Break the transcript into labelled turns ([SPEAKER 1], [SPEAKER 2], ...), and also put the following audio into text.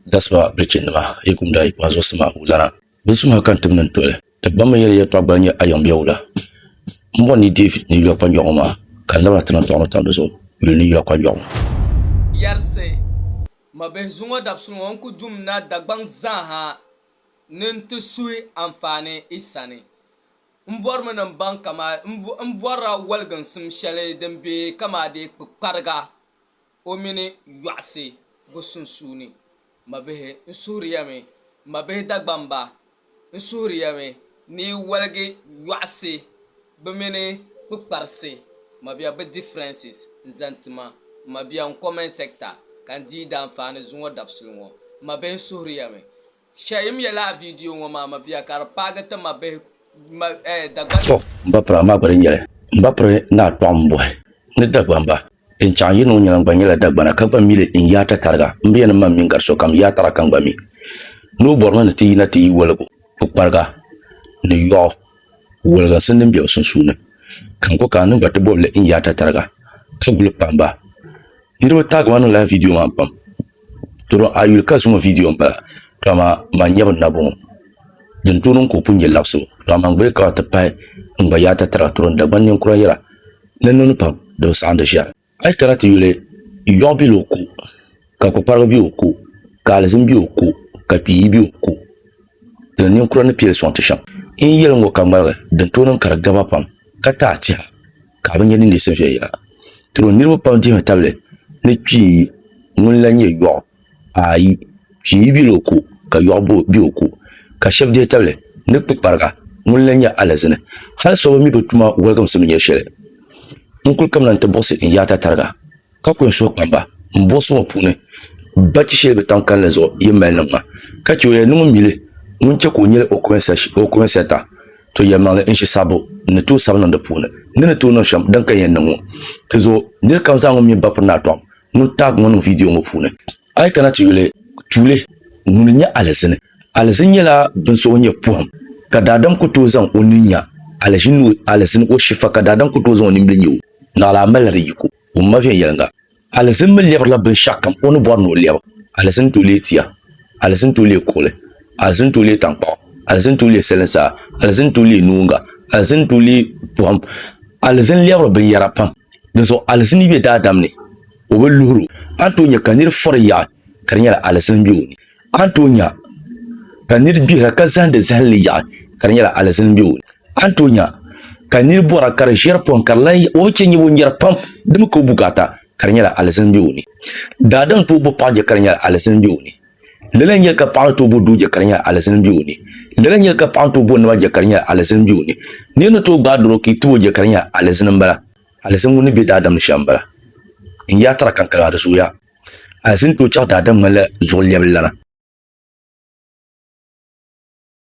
[SPEAKER 1] Dasima bilichinima, yi kum daa yi kpaŋ zuɣusima wulana. Bɛ suma ka n tibni n-toli. Di gbammi yɛli yɛltɔɣa gbali nyɛ ayɔmbiɛ wula. M bɔri ni yi deei ni yula kpanjɔɣu ŋɔ maa, ka n labina ti niŋ tɔɣinli tam di zuɣu yuli ni yula kpanjɔɣu ŋɔ. Yɛrisi,
[SPEAKER 2] Mabihi zuŋɔ dabisili ŋɔ n ku dum na Dagbaŋ zaaha ni n ti suhi anfaani i sani. M bɔrimi ni m baŋ kamaa m bɔrila waliginsim shɛli din be kamaa dee kpukpariga. O mini yɔɣisi bo sunsuuni? Mabihi, n suhiri ya mi, mabihi Dagbamba, n suhiri ya mi, ni yi waligi yɔɣisi bɛ mini kpukparisi, mabiha bɛ differences, n zaŋ ti ma, mabiha n comment sector ka n dii daanfaani zuŋɔ dabisili ŋɔ. Mabihi n suhiri ya mi. Shɛyim yɛla a vidiyo ŋɔ maa mabiya ka di paagi ti mabihi Dagbani.
[SPEAKER 1] To, m ba piri a maa gba di nyɛli. M ba piri ni a kpaɣim bɔhi ni Dagbanba. Din chaŋ yi niŋ nyɛla n gba nyɛla Dagbana ka gba mi li n yaata tariga m bi yɛn ni ma m mini gari sokam yaatara ka n gba mi ni o bɔrimi ni ti yina ti yi woligu kpukpariga ni yɔɣu. Wɔliginsi n-niŋ be o sunsuuni, ka n ku ka n niŋ ba ti bɔbili n yaata tariga, ka guli kpaam ba. Niriba taagi ma niŋla vidiyo maa pam. Doro a yuli ka zuŋɔ vidiyo m-bala, to amaa man n-nyɛ bini na bɔŋɔ. Din tooi niŋ ka o pun nyɛ labisibu, to amaa n gba yi ka ti pahi n gba yaata tariga, doro n Dagbani ninkura yɛra ni n niŋdi pam di bi saɣindi shɛli. A yi kana ti yuli, yɔɣu bela o ko, ka kpukpariga be o ko, ka alizin be o ko, ka kpiiyi be o ko. Dina ninkura ni pili sɔŋ ti shɛm. N yɛli ŋɔ ka ŋmaligi din tooi niŋ ka di gaba pam, ka taai tɛha ka a bi nya ni neesim viɛnyɛla. Diro niriba pam dihimi tabili ni kpiiyi ŋuni la nyɛ yɔɣu. Ayi, pia yi bela o ko, ka yɔɣu be o ko, ka shɛb dihi tabili ni kpikpariga, ŋuni lan nyɛ alizini. Hal so bi mi bɛ tuma wɔligimsi mi nyɛ shɛli. N kul kamina nti buɣisi n yaata tariga, ka ku n suhu kpaŋ ba. M buɣisi ŋɔ puuni, ba chi shɛli bɛ tam kalinli zuɣu yi mali niŋ ma, ka chɛ o yɛli ni ŋun mi li ŋun chɛ ka o nyɛli o kuminsata, to yɛlimaŋli n ʒi sabbu ni tooi sabi niŋ di puuni, ni ni tooi niŋ shɛm din ka yɛn niŋ ŋɔ. Dinzuɣu nir kam zaa ŋun mi ba piri ni a tɔɣim. ni o taag ŋɔ niŋ viidiyo ŋɔ puuni. A yi kana ti yuli, tuuli ŋuni n-nyɛ alizini? Alizini nyɛla bin so ŋun nyɛ pɔhim ka daadam ku tooi zaŋ o nini nya alizini o shifa ka daadam ku tooi zaŋ o nimbili nya o. Naɣila a malila di yiko ŋun ma viɛnyɛliŋga. Alizini mi lɛbirila binshɛɣukam o ni bɔri ni o lɛbu. Alizini tooi leei tia. Alizini tooi leei kuɣili. Alizini tooi leei taŋkpaɣu. Alizini tooi leei salin saa. Alizini tooi leei noonga. Alizini tooi leei pɔhim. Alizini lɛbiri binyɛra pam Dinzuɣu alizini be daadam ni, o bi luhir o. A ni tooi nya ka nir fɔri yaɣi ka di nyɛla alizini m-be o ni. A ni tooi nya ka nir gbihira ka zahindi zahinli yaɣi ka di nyɛla alizini m-be o ni. A ni tooi nya ka nir bɔra ka di ʒiɛri pɔhim ka di lan yaɣi o bi chɛ nyɛbu n-nyari pam di mi ka o bukaata ka di nyɛla alizini m-be o ni. Daadam tooi bo paɣ je ka di nyɛla alizini m-be o ni. Lala n-yɛli ka paɣa ni tooi bo doo je ka di nyɛla alizini be o ni. Lala n-yɛli ka paɣa ni tooi bo naba je ka di nyɛla alizini be o ni. Nir ni tooi gbaai doro ka yi tib o je ka di nyɛla alizini m-bala. Alizini ŋun ni be daadam ni shɛm m-bala. N yaa tara kaŋ kaliŋa di zooya. Alizini tooi chaɣ daadam ŋmanila zuɣulɛbili lana.